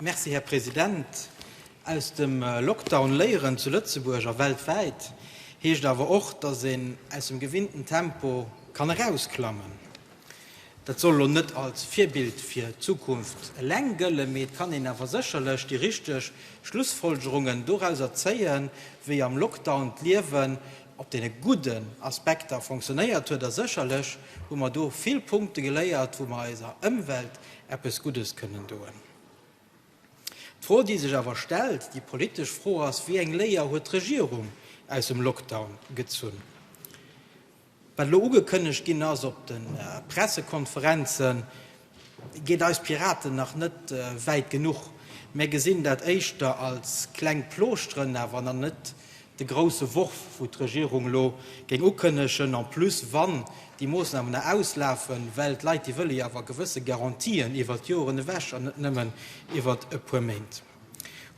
Merci, Här President. Aus dem Lockdown léieren, zu Lëtzebuerg a weltwäit, heescht awer och, dass een aus dem gewinnten Tempo kann erausklammen. Dat soll elo net als Virbild fir d'Zukunft eleng gëllen, mee et kann een awer sécherlech déi richteg Schlussfolgerungen dorauser zéien, wéi am Lockdown d'Liewen op deene gudden Aspekter fonctionnéiert huet. A sécherlech hu mer do vill Punkte geléiert, wou mer eiser Ëmwelt eppes Guddes kënnen doen. D'Fro, déi sech awer stellt, déi politesch Fro ass, Wéi eng Léier huet d'Regierung aus dem Lockdown gezunn? Wat elo ugekënnegt ginn ass op de Pressekonferenzen, geet eis Piraten nach net wäit genuch. Mär gesinn dat éischter als kleng Plooschteren awer nach net de grousse Worf, wou d'Regierung elo géing ukënnegen, en plus, wann déi Moosnamen da auslafen, well d'Leit, déi wëlle jo awer gewësse Garantien iwwert Joren ewech an net nëmmen iwwert e puer Méint.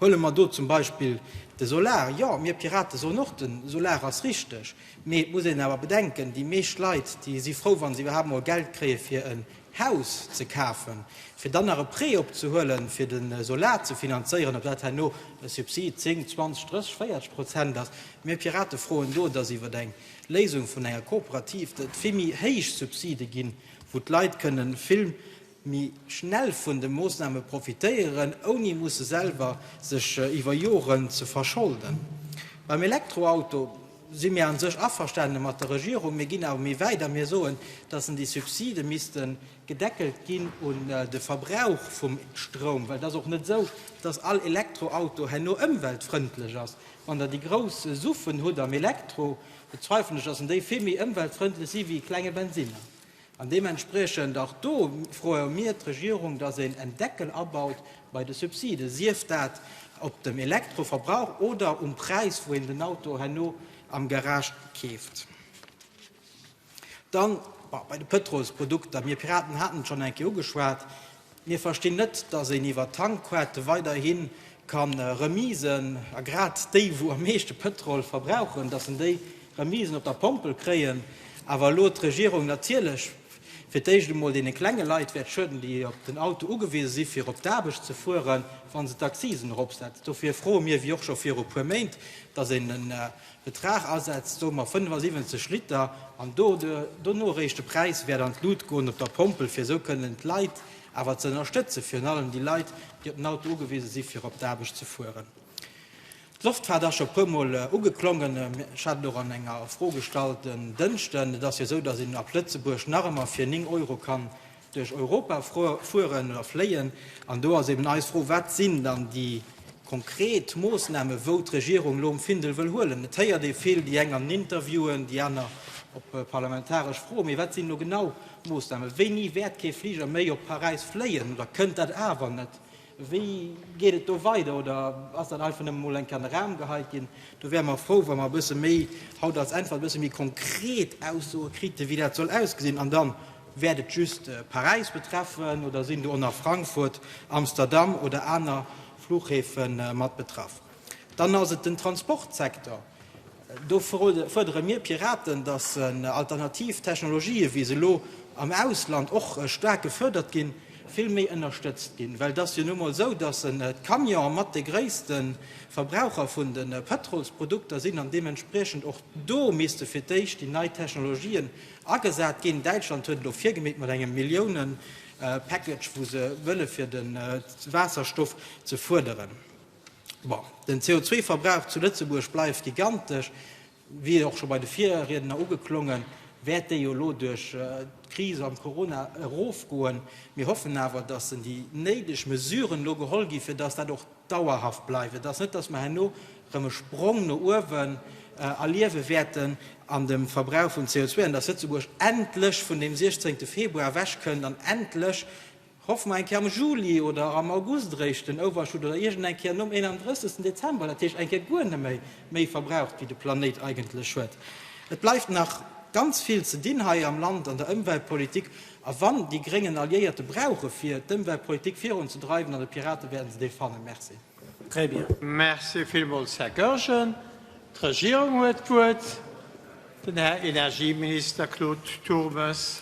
Huele mer do zum Beispill de Solar. Jo, mir Pirate soen och, de Solar ass richteg, mee et muss een awer bedenken, déi meescht Leit, déi si frou, wa se iwwerhaapt mol Geld kréie fir e Haus ze kafen, fir dann nach e Prêt opzehuelen, fir de Solar ze finanzéieren, ob dat herno e Subsid 10, 20, 30, 40 Prozent ass. Mir Pirate froen do, dass iwwer eng Léisung vun enger Kooperativ et vill méi héich Subside ginn, wou d'Leit kënne vill méi schnell vun de Moossname profitéieren, ouni musse selwer sech iwwer Joren ze verscholden. Beim Elektroauto. si mir a sech averstane mat der Regierung. Mir ginn awer méi wäit a mir soen, dass en déi Subside misste gedeckelt ginn un de Verbrauch vum Stroum, well et ass och net esou, dass all Elektroauto herno ëmweltfrëndlech ass. Wann Der déi grouss Suffen hutt am Elektro, bezweifelen ech, dass en déi vill méi ëmweltfrëndlech si wéi e klenge Bensinner. An deementspriechend och do froe mir d'Regierung, dass een en Deckel abaut bei de Subsiden, sief dat op dem Elektroverbrauch oder um Präis, wou een den Auto herno am Garage keeft. Dann bei de Pëtrolsprodukter. Mir Piraten haten et schonn eng Kéier ugeschwat. Mir verstinn net, dass een iwwer Tankquête weiderhi ka Remisen, a grad déi wou am meeschte Pëtrol verbrauchen, dass en déi Remisen op der Pompel kréien, awer elo d'Regierung natierlech fir d'éischt emol deene klenge Leit wäert schueden, déi op den Auto ugewise si fir op d'Aarbecht ze fueren, wa se d'Accisen eropsetzt. Dofir froe mir, wéi och scho viru puer Méint, dass een en Betrag asetzt, soe mer 75 Liter, an dono eréischt de Präis wäert an d'Lut goen op der Pompel, fir esou kënnen d'Leit awer ze ënnerstëtzen, virun allem déi Leit, déi op den Auto ugewise si fir op d'Aarbecht ze fueren. D'Loftfaart ass scho puer Mol ugeklongen. Ech hat et och an enger Fro gestallt en Dënschden. Et ass jo esou, datt een ab Lëtzebuerg nach ëmmer fir 9 Euro kann duerch Europa fueren oder fléien. An do ass eben eis Fro, Wat sinn dann déi konkret Moossnamen, wou d'Regierung elo um Findel wëll huelen? Et héiert ee vill, déi eng an Interviewen, déi aner op parlamentaresch Froen. Mee wat sinn elo genau d'Moossnamen? Wéini wäert kee Fliger méi op Paräis fléien oder kënnt dat awer net? Wéi geet et do weider? Oder ass dat einfach nëmme mol eng Kéier an de Raum geheit ginn? Do wäre mer frou, wa mer e bësse méi haut als Äntwert e bësse méi konkret Aussoe krite wéi dat soll ausgesinn. An dann, wäert et just Paräis betreffen oder sinn do och nach Frankfurt, Amsterdam oder aner Fluchhäfe mat betraff? Dann ass et den Transportsektor. Do fuerdere mir Piraten, dass alternativ Technologien, wéi se elo am Ausland och staark gefërdert ginn, vill méi ënnerstëtzt ginn. Well et ass jo nu emol esou, dass d'Camionen mat de gréisste Verbraucher vun de Pëtrolsprodukter sinn an deementspriechend och do misste fir d'éischt déi nei Technologien agesat ginn. Däitschland huet elo virgemeet mat engem Milliounen-Package, wou se wëlle fir de Waasserstoff ze fuerderen. Bon, den CO2-Verbrauch zu Lëtzebuerg bleift gigantesch, wier och scho bei de Virriedner ugeklongen. Wäert dee jo elo duerch d'Kris an Corona erofgoen? Mir hoffen awer, dass déi néideg Mesuren elo geholl ginn, fir dass dat och dauerhaft bleift, fir dass net, dass mer herno erëm e Sprong no uewen erliewe wäerten an dem Verbrauch vun CO2 an dass Lëtzebuerg endlech vun deem 16 Februar ewechkënnt an endlech Hoffe mer eng Kéier am Juli oder am August eréischt den Overshoot oder iergend eng Kéier nom 31. Dezember, dat heescht eng Kéier guer neméi méi verbraucht wéi de Planéit eigentlech huet. Et bleift nach ganz vill ze dinn hei am Land an der Ëmweltpolitik a wann déi Gréngen Alliéierte brauche fir d'Ëmweltpolitik virun ze dreiwen, an de Piraten, wäerte se déi fannen. Merci. Très bien. Merci villmools, Här Goergen. D'Regierung huet d'Wuert, den Här Energieminister Claude Turmes.